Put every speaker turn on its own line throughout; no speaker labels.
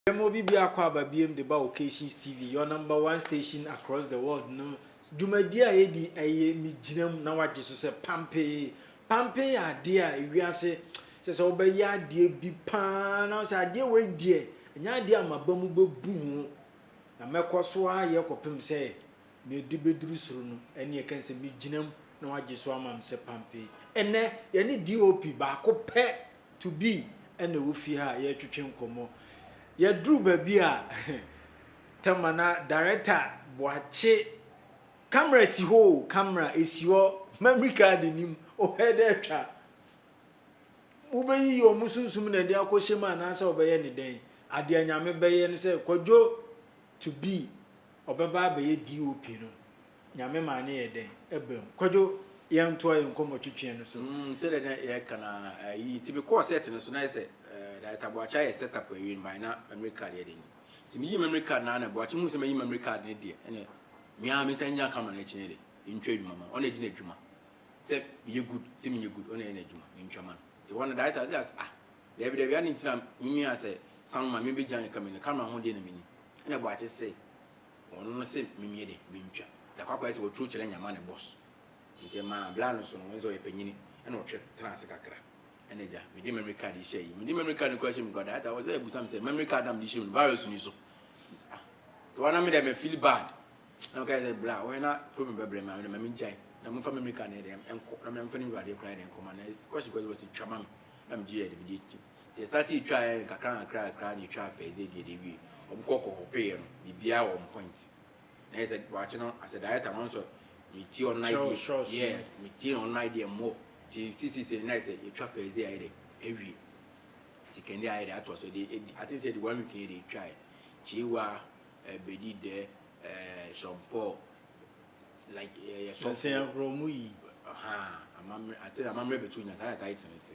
Dɛm obi bi akɔ aba biom de ba Occasions TV, your number one station across the world no dwumadie a yɛdi ɛyɛ me gyina mu na wagye so sɛ pampee Pampen yɛ adeɛ a ewiase sɛ sɛ wobɛyɛ adeɛ bi paa na wo sɛ adeɛ wei deɛ ɛnyɛ adeɛ a maba mu bɛbu ho na mɛkɔ so ayɛ kɔpem sɛ mede bɛduru soro no ɛneɛ ɛka sɛ megyina mu na wagye so ama me sɛ pampen. Ɛnɛ yɛne DOP baako pɛ to be ɛna ɛwɔ fie ha a yɛretwetwe nkɔmmɔ. Yɛduru baabi a Tɛma na Director Boakye. Camera si hɔ o camera esi hɔ memory card nnim wopɛ dɛ ɛtwa wobɛyiyi ɔmo sunsum na ɛde akɔ hyɛ mu anaasɛ ɔbɛyɛ ne dɛn adea nyame bɛyɛ no sɛ kwadwo to be ɔbɛba abɛyɛ DOP no nyame maa no yɛ dɛn ɛba mu kwadwo yɛn toa yɛn nkɔmɔ twetweɛ no so. Mm sɛdeɛ na yɛka
no ara ayi nti me kɔɔ set no so na ayɛ sɛ Director Boakye ayɛ set up awie no by na memory card yɛ dɛ ni nti me yii memory card no ara na Boakye huu sɛ mayi memory card no deɛ ɛna Me ara mensan nyaa camera no akyi no de mentwa adwuma ma no, ɔno na ɛdi n'adwuma sɛ meyɛ good sɛ menyɛ good ɔno na ɛyɛ n'adwuma mentwa ma no nti hɔ no director no sɛ ah daabi daabi adɛn nti na me nua sɛ Sam ma membɛgyina ne camera no camera ho deɛ na menim ɛna Boakye se ɔno no se memeyɛ dɛ mentwa Takwakwa ayɛ sɛ waturo kyerɛ nyama ne boss nti ɛmaa bla no so no ɔhu sɛ ɔyɛ panyini ɛna ɔtwe tenaa ase kakra. Ɛna agya, mede memory card yi hyɛ yi. Mede memory card no kura hyɛ mu kura that time wɔsɛ ɛbusa me sɛ memory card na mede hyɛ mu no virus ni so. Mese ah, te wɔn na me dɛ me feel bad. Na ɔka sɛ bra wɔn na problem bɛbrɛ me a me dɛ ma me ngyae. Na mo fa memory card na yɛ dɛ nkɔ na me nfa ne wura adeɛ kura yɛ dɛ nkɔ ma na kɔsi kɔsi wɔsi twa ma me. Na me gye yɛ de me de twam. Te start yi twa yɛ kakra kakra kakra na etwa fɛ ɛdze ɛdeɛ de wie. Wɔn kɔ kɔ kɔ pay yɛ no biribiara wɔn point. na yɛ sɛ wakye no as a director no nso me tie ɔno idea yeah me tie ɔno idea mo ti sisi sɛ na yɛ sɛ yɛtwa first day ayɛ dɛ awie second day ayɛ dɛ ato aso de edi ati sɛ de one week yɛ de etwa yɛ kyewa ɛbɛdi dɛ ɛɛ sɔmpɔ like yɛ sɔfo ɛsɛ
agorɔ mu yi ɔhaa
amammerɛ ati amammerɛ bɛtu nya saa na taa yɛ tena ti.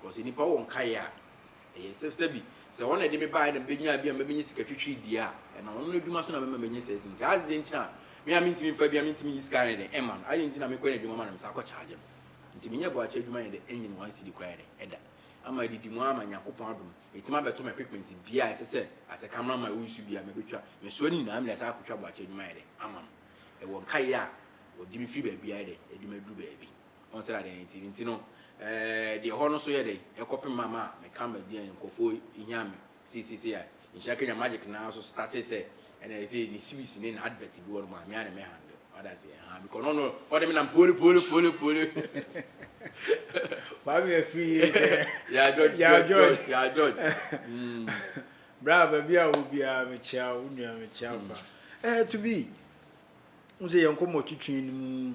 Because nnipa wɔ nkaeɛ a ɛyɛ sɛ sɛbi sɛ ɔno na ɛde me baeɛ na mebɛnyaa bi a mɛbɛnya sika twitwi deɛ a ɛnam ɔno n'adwuma so na mɛma manya saa sini nti adɛn nti na me a mentumi mfa bi a mentumi nyi sika ayɛ dɛn ɛma no adɛn nti na mekɔ n'adwuma ma no mesa kɔ charge no nti menyɛ boakye adwuma yɛ dɛn ɛnyɛ no one cedi koraa yɛ dɛn ɛda ama adidi mu ama Nyankopɔn adom ɛtumi abɛto me equipment bia ɛsɛ sɛ as a camera man wo nsu bia mɛbɛtwa mesoa ne nyinaa mede asan akɔtwa boakye adwuma ayɛ dɛn ama no ɛwɔ nkaeɛ a ɔde me firi baabi ayɛ dɛn ɛde me aduru baabi Wɔn sɛdeɛ adeɛ no te. Nti no, deɛ ɛhɔ no so yɛ dɛn? Ɛkɔpem ma ma meka m'aduane no, nkorɔfoɔ hia me. Sei sei sei a, nhyira kanya magic no ara so startee sɛ, ɛna ɛsɛ ne series ne na advert bi wɔ nom a, me ara na me handle. Wate aseɛ? Ahaa, because na ɔno, ɔde me nam poli poli poli poli.
Wama me afiri yie sɛ, Yaa George,
Yaa George, Yaa George, mm.
Bra, baabi a wowɔ biara, mekyea wo, wo nua, mekyea wo paa. Eh, to be, wohu sɛ yɛn nkɔmmɔtwetwe no mu,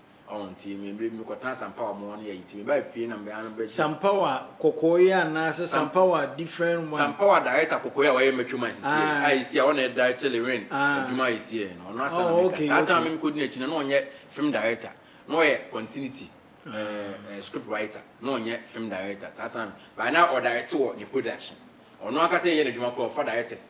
Ɔho nti me mmerɛ bi me kɔtena sampa wɔ ɔmo ne ayi nti me baa fie na me ano bɛ. Sampawa kɔkɔɔ
yi anaa sɛ sampawa different one. Sampawa director kɔkɔɔ yi a
wayɛ Metro Mines seɛ yi a ɛsi a ɔna ɛdirecte Lewin adwuma a ɛsi yɛ no ɔno asa na meka saa time no me kɔdi nakyi no na ɔnyɛ film director na ɔyɛ continuity ɛɛ script writer na ɔnyɛ film director saa time by na ɔdirecte wɔ ne production ɔno ankasa yɛ nadwuma koraa ɔfa directors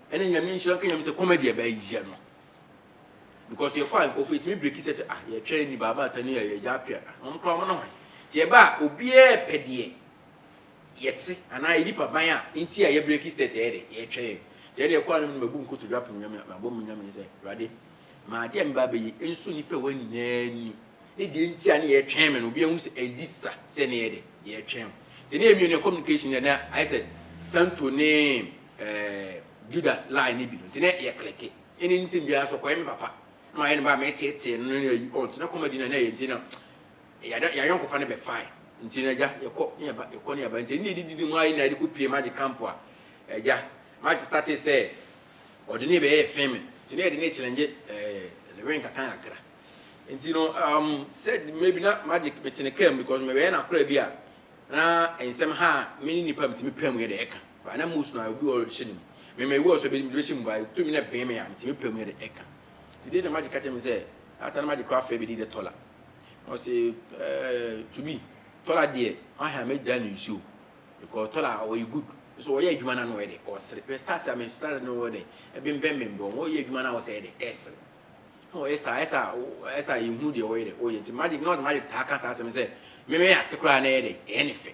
Ɛna Nyame nhyira nka Nyame sɛ comedy a bɛyɛ no because yɛkɔ a nkorɔfo yɛtumi breki sɛ ah yɛtwɛn ni baaba ata ni ɛyɛ gya apia ah wɔn koraa wɔn ne hwan nti yɛba a obiara pɛ deɛ yɛte anaa yɛ nipa ban a nti a yɛ breki stɛt ɛyɛ dɛ yɛtwɛn nti ɛna yɛkɔ anam no mabu nkotodwe apem Nyame mabɔ mu Nyame sɛ awurade ma adeɛ a meba abɛyi nso nipa wɔn nyinaa ni ne deɛ nti a ne yɛtwɛn me no obiara hu sɛ ɛdi sa sɛ ne yɛ dɛ yɛtwɛn nti ne yɛ mmienu yɛ communication yɛ na ayɛ sɛ santo ne Ɛɛ Judas line ne bi no nti na yɛ kleke ɛne nti biara so kɔyɛ me papa na wayɛ ne ba me tee tee no ne ayi ɔnti na kɔma di na na yɛ nti na yɛ yɛ ayɔnko fa ne bɛ fine nti na gya yɛ kɔ ne yɛ ba yɛ kɔ ne yɛ ba nti ne yɛ didi di mu ayɛ na yɛ de kɔ pie magye camp a ɛgya magye starte sɛ ɔde ne bɛ yɛ fame nti na yɛ de ne kyelɛngye ɛɛ ne wɛn kakra kakra nti no um said maybe na magic me tene kam because me bɛ yɛ na kora bi a na nsɛm ha a me ne nipa me ti me pɛ mu yɛ de ɛka. Ba na musu na obi a ɔrehyɛ no mu. Me mewɔ ɔsɔ bɛ no mu de bɛhyɛ mu ba, tumi na ɛbɛn me a, metumi apae mu de ɛka. Nti dee na magye ka kyerɛ me sɛ, Ata na magye koraa fɛɛ bɛ din dɛ Tɔla. Na ɔse, eh, to me, Tɔla deɛ, w'ahe a mɛgyae no nsuo. Because Tɔla ɔyɛ good, nso ɔyɛ adwuma no a na ɔyɛ dɛ ɔsere. Hwɛ stars a me stars no wɔ dɛ ɛbembɛn me mbrɛ ɔyɛ adwuma no a ɔsɛ yɛ dɛ ɛsere. Na ɔyɛ saa, ɛsɛ a ɛsɛ a yɛhunu deɛ ɔyɛ dɛ ɔyɛ. Nti magye, na ɔde magye taa ka saa asɛm no sɛ, me meyɛ ate koraa na ɛyɛ dɛ ɛyɛ ne fɛ.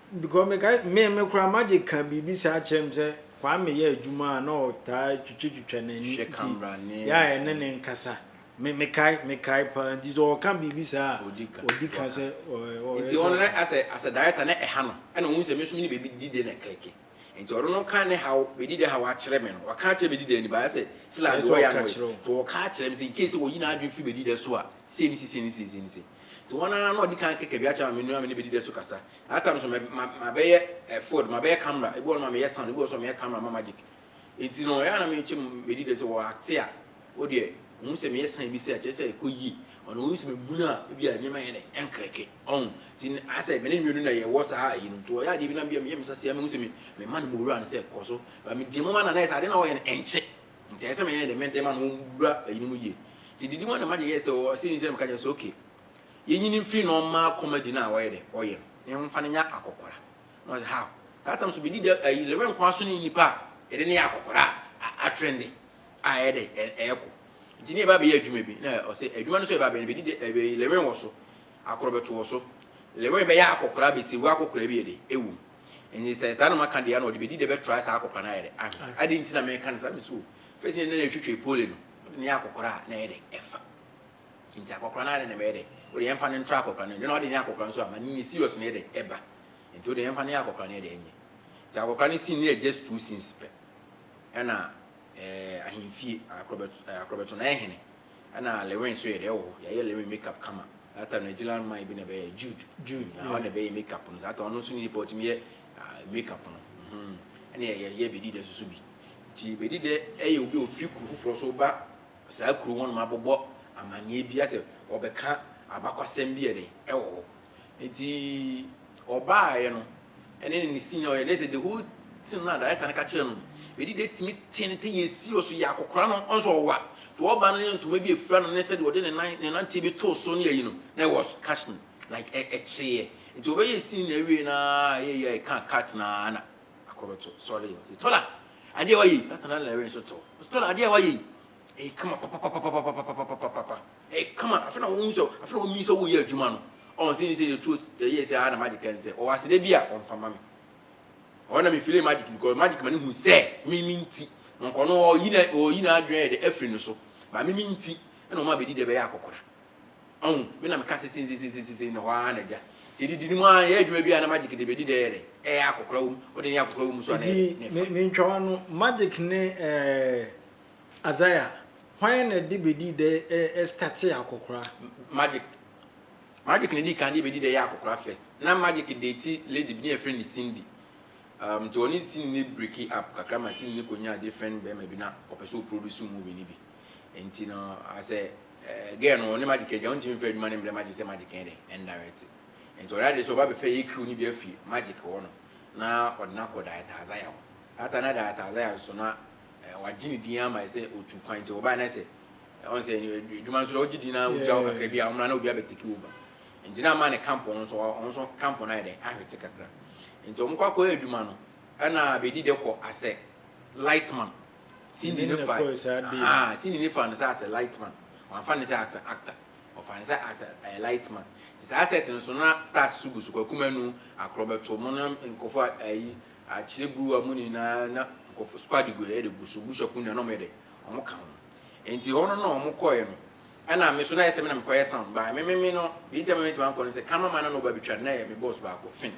Because mekae me me koraa Magic ka biribi saa kyerɛ me sɛ Kwame yɛ adwuma a na ɔtaa twitwa twitwa n'ani Hwɛ nti camera ne yɛ a ɛne ne nkasa me mekae mekae paa nti sɛ ɔka biribi saa a Odi ka ɔdi ka sɛ ɔ ɛ ɔ Nti ɔyɛ ɔno sɛ
na as a as a director na ɛha no ɛna ɔhu sɛ me nso me ne Baby Dide na ɛclicke nti ɔno no ka ne haw Baby Dide haw akyerɛ me no waka akyerɛ Baby Dide ni but ayɛ sɛ Sila ɛyɛ deɛ sɛ ɔyɛ a ɔka na ɔyɛ kyerɛ wo. nti ɔka akyerɛ me sɛ in case sɛ ɔyi n'adwene firi Baby Dide so a sei ne sei sei ne sei sei ne sei. Nti wɔn ara na ɔdi kan keka bi akyerɛ ma me nua me ne bedi dɛ so kasa. At times no ma ma bɛyɛ eh ford, ma bɛyɛ camera, ebi wɔ hɔ no ma meyɛ sound, ebi wɔ hɔ so ma meyɛ camera ma magic. Nti no ɛyɛ a na me kyɛ mu bedi dɛ sɛ wɔ acte a wo deɛ ohu sɛ meyɛ sign bi sɛ ɛkyerɛ sɛ ɛkɔ yie, ɔno ohu sɛ me munu a ebi a nneɛma yɛ dɛ ɛnkrɛke, ɔho. Nti ayɛ sɛ me ne ne nua no na yɛ wɔ saa ayi no. Nti ɔyɛ adeɛ bi na me yɛ me nsa sei a mehu sɛ me ma no m'owura no sɛ kɔ so, but me deɛ mo ma no a na ayɛ sɛ adeɛ no a ɔyɛ no ɛnkye. Nti ɛsɛ sɛ meyɛ dɛ mede ma na ɔbura ɛyini mu yie. Nti didi mu a na magye yɛɛ sɛ ɔɔ sɛ nti na meka kyerɛ no sɛ okay yɛnyi no mfiri na ɔmma kɔmadi no a ɔyɛ dɛ ɔyɛ no na yɛmfa no nyɛ akɔkora. Na ɔse how? That time nso medi dɛ ayi Lorraine nko ara so ne nnipa a yɛde no yɛ akɔkora a atrende a ɛyɛ dɛ ɛɛkɔ. Nti ne yɛba bɛyɛ adwuma bi na ɔse adwuma no nso a yɛba bɛyɛ no bedi dɛ ɛɛ Lorraine wɔ so, akorɔ bɛto wɔ so, Lorraine bɛyɛ akɔkora bɛsɛwu akɔkora bi yɛ dɛ ɛwɔ mu. Ɛnde sɛ saa na maka deɛ a na ɔde bɛdi dɛ bɛtrae saa akɔkora no ayɛ dɛ anhwɛ. Adɛn nti na meka no saa? Mesuo. Ɛfiri sɛ nneɛma a ɛtwetwee Pole no, wode no yɛ akɔkora a, na ɛyɛ dɛ, ɛfa. Enti akɔkora no ara na na ɛbɛyɛ dɛ. Wode yɛmfa no ntra akɔkora no anim. Ɛnna wode no yɛ akɔkora nso a, ma ne serious no yɛ dɛ, ɛba. Enti wode yɛmfa no yɛ akɔkora no yɛ dɛ, ɛnyɛ. Enti akɔkora no sini ne agya stool scenes pɛ. Ɛnna. ahemfie akora bɛto no ayɛ hene ɛna lewin nso yɛ deɛ ɛwɔ hɔ yɛayɛ lewin make up kama that time na gyina man bi na ɛbɛyɛ jude jude na ɔna ɛbɛyɛ make up no saa ta ɔno nso ne nipa ɔtumi yɛ make up no mhm. ɛna yɛyɛ bɛdi dɛ soso bi nti bɛdi dɛ ɛyɛ obi a ɔfiri kuro foforɔ so ba saa kuro hɔ nom abɔbɔ amanneɛ bi asɛ ɔbɛka abakwasɛm bi ɛdɛ ɛwɔ hɔ Enti ɔbaaeɛ no, ɛne ne sin a ɔyɛ no, ɛsɛ the whole thing no a director no ka kyerɛ no, ɛdi dɛ tumi tenten yɛ serious yɛ akɔkora no nso ɔwa. Nti ɔba no ne ntoma bi ɛfira no ne sɛdeɛ ɔde ne nan ne nanteɛ bi too so ne ayi no, na it was catching like ɛ ɛkyeeɛ. Nti ɔbɛyɛɛ scene no ɛwiee no ara a ɛyɛ yie a ɛkaa cut no ara na akɔbɛto sɔre. Ɔse Tola adeɛ a woayɛ yi, saa time no na Irene nso too, ɔse Tola adeɛ a woayɛ yi, ɛyɛ kama papapapapapapapapapapa. Ɛyɛ kama, afei na ɔhu sɛ, afei na ɔnyin sɛ ɔreyɛ adwuma no. Ɔn, sɛ nyi sɛ yɛ tuo yɛyɛ sɛ aa na magic ɛn sɛ ɔwɔ aseda bi a ɔnfa mma me. Ɔhɔ na me feelee magic because magic ma no hu sɛ me me nti na ɔnkɔ no ɔreyi na ɔreyi na adwene ayɛ dɛ afiri no so but me me nti ɛna ɔma bɛdi dɛ bɛyɛ akɔkora. Ɔn, me na me ka sɛ sei sei sei sei na hɔ aa na gya nti yɛ didi no mu aa yɛyɛ adwuma bi a na magic de bɛdi dɛ yɛ dɛ ɛyɛ akɔkora wɔ mu, ɔde yɛ akɔkora wɔ mu so a na yɛ dɛ ne fa. Nti me ntwa w'ano,
magic ne ɛɛ. Azaia, hwan na de bedi dɛ ɛ startee akɔkora?
Magic Magic na di kan de bedi dɛ yɛ akɔkora first na Magic date lady bi na yɛfrɛ no Cindy um nti ɔne Cindy no breaki up kakra ma Cindy no konyaa different bɛɛma bi na ɔpɛ sɛ ɔproduce movie no bi nti no asɛ eh girl no ɔne Magic agya ɔntumi mfa adwuma no mbrɛ Magic sɛ Magic nyɛ dɛn ndirect nti ɔyɛ ade sɛ ɔba bɛfɛ yɛ crew no bi afi Magic hɔ nom na ɔde no akɔ Director Azaia hɔ Ata na Director Azaia nso na eh, wagye ne din ama sɛ otu kwan nti wɔbae na sɛ ɔn sɛ adwuma nso na wogye din na wogya hɔ kakra bi a wɔmra na obi abɛteki wo ba nti na ama ne kampɔn nso wɔn nso kampɔn ayɛ dɛ ahwete kakra nti wɔn kɔ akɔyɛ adwuma no ɛna bɛdi dɛ kɔ asɛ lightman sini ne fa ah sini ne fa no sɛ asɛ lightman wɔafa ne sɛ asɛ actor wɔfa ne sɛ asɛ ɛyɛ lightman nti saa set no so na stars so gu so kwakumanu akorɔbɛto mo no nkɔfo ayi Akyerɛ bruwa mu nyinaa na nkorɔfo so ade gua yɛde gu so, busuafo nyinaa na wɔyɛ dɛ wɔn ka ho. Enti hɔ no na wɔn kɔɛ no ɛna me so na ayɛ sɛ me na me kɔyɛ sound by me me me no deɛ nti ama me ntumi ankɔ no sɛ camera man na na ɔba betwa no na ɛyɛ me boss baako Finn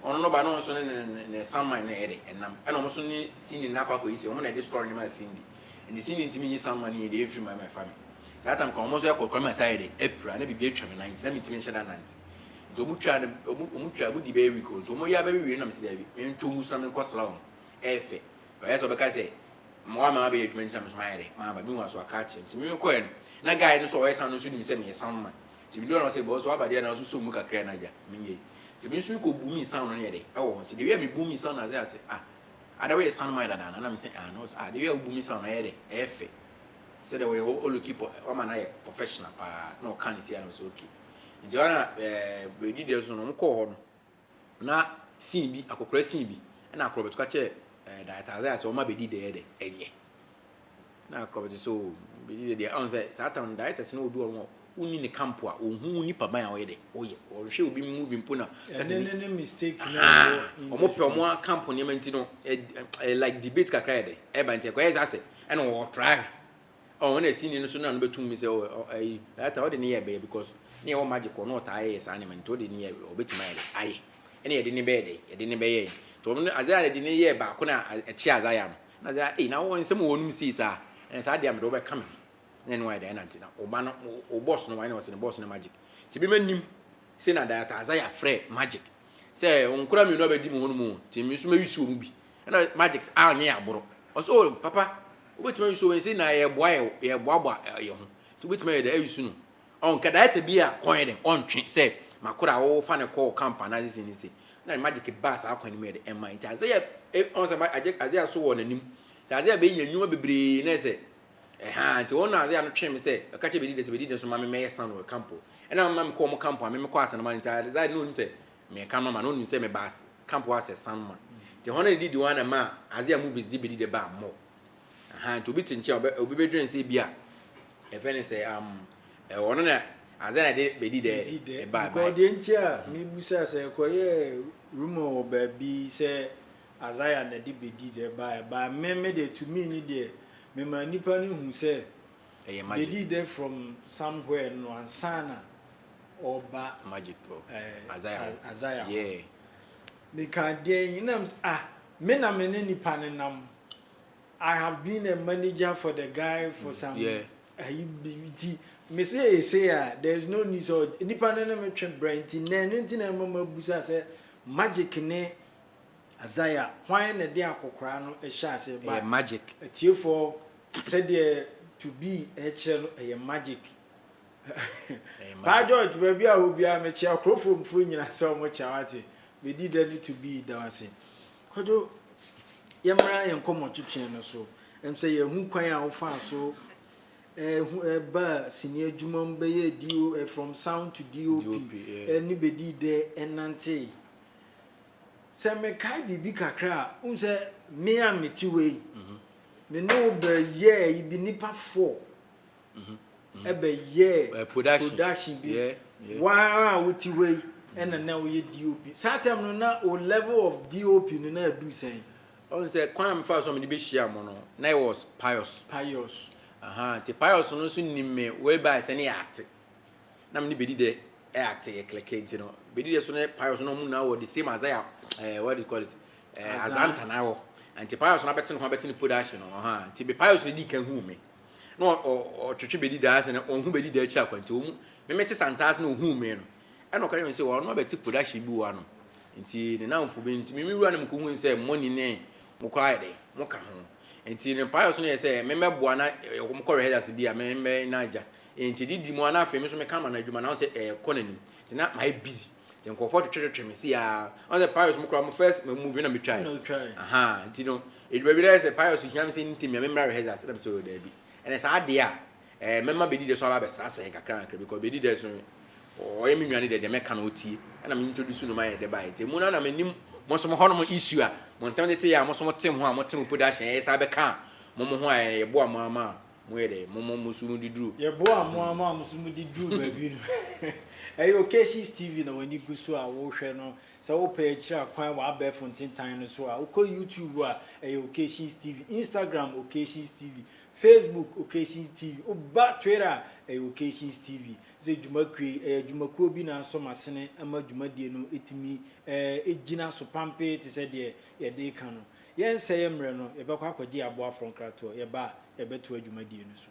ɔno no ba na ɔno nso ne ne ne ne sound man na ɛyɛ dɛ ɛnam ɛna wɔn so ne Cindy na akɔ akɔ yi sɛ wɔn na ɛde story no maa Cindy nti Cindy ntumi nyi sound man no nyi deɛ ɛmfiri mu ama ɛfa me saa time kora wɔn nso ɛkɔ kora ma saa ayɛ dɛ apira na biribi atwa me nan nti na me ntumi nhyɛ da nante Nti ɔmo twaa no ɔmo ɔmo twaa ɔmo dii bɛyɛ week o nti ɔmo yɛ a bɛwe wie no na mese daabi me ntɔ ngu so na me nkɔ sra ɔmo ɛyɛ fɛ ɔyɛ sɛ ɔbɛka sɛ ma wama mabɛyɛ adwuma nti na me so mayɛ dɛ maba me hu aso aka akyerɛ nti me me kɔɛ no na guy no so ɔyɛ sɛ ano nso nim sɛ meyɛ sound man nti me dɔɔ no ɔsɛ bɔs waba deɛ na nso so mu kakra na agya me nyɛ yi nti me nso me kɔ bu me sound no yɛ dɛ ɛwɔ hɔ nti de wia me bu me sound na sɛ ase ah ada woyɛ sound man dada na na me sɛ ah na ɔsɛ ah de wia wo bu me sound na ɛyɛ dɛ ɛyɛ fɛ sɛ dɛ wɔyɛ ɔluki pɔ wama na yɛ professional paa na ɔka ne si a na ɔsɛ okay. Enti ɛhɔ na bɛdii dɛm so no, wɔkɔɔ hɔ no, na scene bi, akɔkora scene bi, ɛna akorɔbɛto ka kyerɛɛ Director Isaiah sɛ wɔma bɛdi dɛ yɛ dɛ, ɛnyɛ. Na akorɔbɛto sɛ oh, bɛdi dɛ deɛ, ɔn sɛ saa tam no directors no obi wɔ hɔ wonni ne camp a, ɔnhu wo nipa ban a ɔyɛ dɛ, ɔyɛ, ɔnhwɛ obi movie mpo na ka sɛ bi,
ahaa, wɔn pɛ wɔn
camp nneɛma nti no, like debate kakra yɛ dɛ, ɛba nti ɛkɔyɛ sɛ asɛ, ɛna wɔtra hwɛ. Ɔn na sini no so na no bɛtum me sɛ ɔ ayi that time ɔde ne yɛ bɛyɛ because ne yɛwɔ magic hɔ na ɔtaa yɛyɛ saa nneɛma nti ɔde ne yɛ ɔbɛtum ayɛ dɛ ayɛ ɛne yɛde ne bɛyɛ dɛ yɛde ne bɛyɛ nti ɔno no Isaiah de ne yɛ baako na ɛkye Isaiah no na Isaiah ei na wɔn nsɛm wɔ wɔn mu sei saa ɛna saa deɛ mede wɔbɛka me ho na ɛne wɔn ayɛ dɛ ɛna nti na ɔba no o boss no wɔn na ɔsɛ ne boss no magic nti bi ma nim sɛ na data Isaiah frɛ magic sɛ nkora mmienu abɛdi mu hɔ no mu nti me nso mɛwisi wɔn mu bi ɛna magics a ɔnyɛ yɛ aboro ɔsɛ o papa wobɛtumi ayusu wei sɛ na yɛboa yɛ yɛboaboa yɛ ho nti wobɛtumi ayɛ dɛ ayusu no ɔnka director bi a kɔn yɛ dɛ ɔntwe sɛ makora a wɔfa ne kɔɔ camp anaa sisi ne se na magic baa saa kwan no mu yɛ dɛ ɛma nti adze yɛ ɔn sɛ adze yɛ so wɔ n'anim nti adze yɛ bɛnya nnwuma bebree na sɛ ɛha nti wɔn na adze yɛ no twe me sɛ ɛka kyɛ bɛdi dɛ sɛ bɛdi dɛ nso ma me mɛyɛ san wɔ camp ɛna ma me kɔ wɔn camp a me mekɔ asɛnoma nti adze yɛ na onim sɛ Meka no ma no ɔnum sɛ mebaa camp hɔ asɛ san ma nti hɔn a ne didi hɔ ana maa adze a movies dze bedi dɛ baa mɔ ahaa nti obi tse nkyɛn a ɔbɛ obi bɛdwen sɛ bi a yɛfɛ ne sɛ am ɛ ɔno na adze na ɛde bedi dɛ Bedi dɛ ɛbaa because ɛbaa. deɛ nti a
mebusa sɛ ɛkɔyɛɛ rumour wɔ baabi sɛ Isaiah na ɛde bedi dɛ baa ɛbaa me me deɛ to me ne deɛ memaa nnipa no hu sɛ Ɛyɛ magic. bedi dɛ from somewhere no ansa na. ɔba magic
oh azaya hɔ azaya
hɔ meka deɛn na m ah me na me ne nipa ne nam I have been a manager for the guy for mm, some yeah. ayi bi ti me se ese a there is no need so nipa ne ne me twe brɛ nti na ɛno nti na ɛma ma busa sɛ magic ne azaya hwan na de akɔkora no ɛhyɛ ase ba magic atiefoɔ sɛdeɛ to be ɛkyerɛ no ɛyɛ magic Paa George baabi a wɔ biara me kyea Kurofom foɔ nyina sɛ ɔmo kyea wate me di dɛ ne to be da wase Kwadwo yɛ mmra yɛ nkɔmɔ twetweɛ no so ɛm sɛ yɛ hu kwan a wo faa so ɛɛ hu ɛɛ baa sini adwuma mu bɛyɛ DO ɛɛ from sound to DOP ɛɛ ne bɛ di dɛ ɛnantee sɛ me kae biribi kakra a wohu sɛ me a me te wei me ne wo bɛ yɛɛ yi bi nipa four ɛbɛ yɛɛ production bi waa a wo ti hɔ yi ɛna na wo yɛ DOP saa time no na o level of DOP no na ɛdu sɛn. Ɔn sɛ kwan a
mefa so a mede bɛhyia mo no na yɛ was pious. Pious. Aha nti pious no nso nim me way by sɛ ne yɛ ate na me ne bedi dɛ ɛ ate yɛ klɛkɛ nti no bedi dɛ so ne pious no ɔmo nyinaa wɔ the same azaya eh, what do you call it eh, azantana wɔ nti pious no abɛte ne ho abɛte ne production no ɔha nti me pious no di ka hu me. na ɔtwetwe bɛdi daa ase na ɔho bɛdi daa akyiri akwanti wɔ mu meme te santaa ase na ɔhuu me no ɛna ɔka yɛn sɛ ɔno abɛte production bi wɔ ano nti ne namfo bi nti meme wura no mekɔ hu sɛ mɔni ne mokɔ ayɛ dɛ moka ho nti ne mpaeɛ so no yɛ sɛ memɛboa na mokɔ rehearsals bi a memɛ na agya nti didi mu a na afei me so meka ma no adwuma na ɔsɛ ɛkɔ n'anim nti na mayɛ busy nti nkurɔfoɔ twetwetwetwe me si a ɔsɛ mpaeɛ so mo kora mo first movie na metwae aha nti no Edu baabi na ɛyɛ sɛ payɛ so hia me sɛ ntɛm yi memmra rehearsals na mesɛ oh daabi ɛnɛ saa adeɛ a ɛɛ mɛma Bedi dɛ so aba abɛsrasra yɛn kakra kakra because Bedi dɛ so ɔyɛ me nua ne deɛ deɛ mɛka no ɔtie ɛna me introduce no ma yɛn dɛ baeɛ nti ɛmu no ara na menim mosom hɔnom issue a montɛm de te yɛ a mosom te ho a mote mo production yɛyɛ saa bɛka a mo mo ho a ɛɛ yɛboa mo ara ma moyɛ dɛ mo mo mo so mode duru Yɛboa mo ara ma
mo so mode duru baabi no ɛyɛ Occasions TV na w'ani gu so a wohwɛ no Sɛ wopɛ akyira kwan wɔ abɛɛfo ntentan no so a, wokɔ YouTube a, ɛyɛ Occasions TV, Instagram Occasions TV, Facebook Occasions TV, woba Twitter a, ɛyɛ Occasions TV. Sɛ dwuma kuo yi, ɛyɛ dwumakuo bi na asɔ m'asene ma dwumadie no tumi gyina so pampee te sɛ deɛ yɛde reka no. Yɛnsɛe mmerɛ no, yɛbɛkɔ akɔgye yɛn aboafoɔ nkratoɔ, yɛba a, yɛbɛtoa dwumadie no so.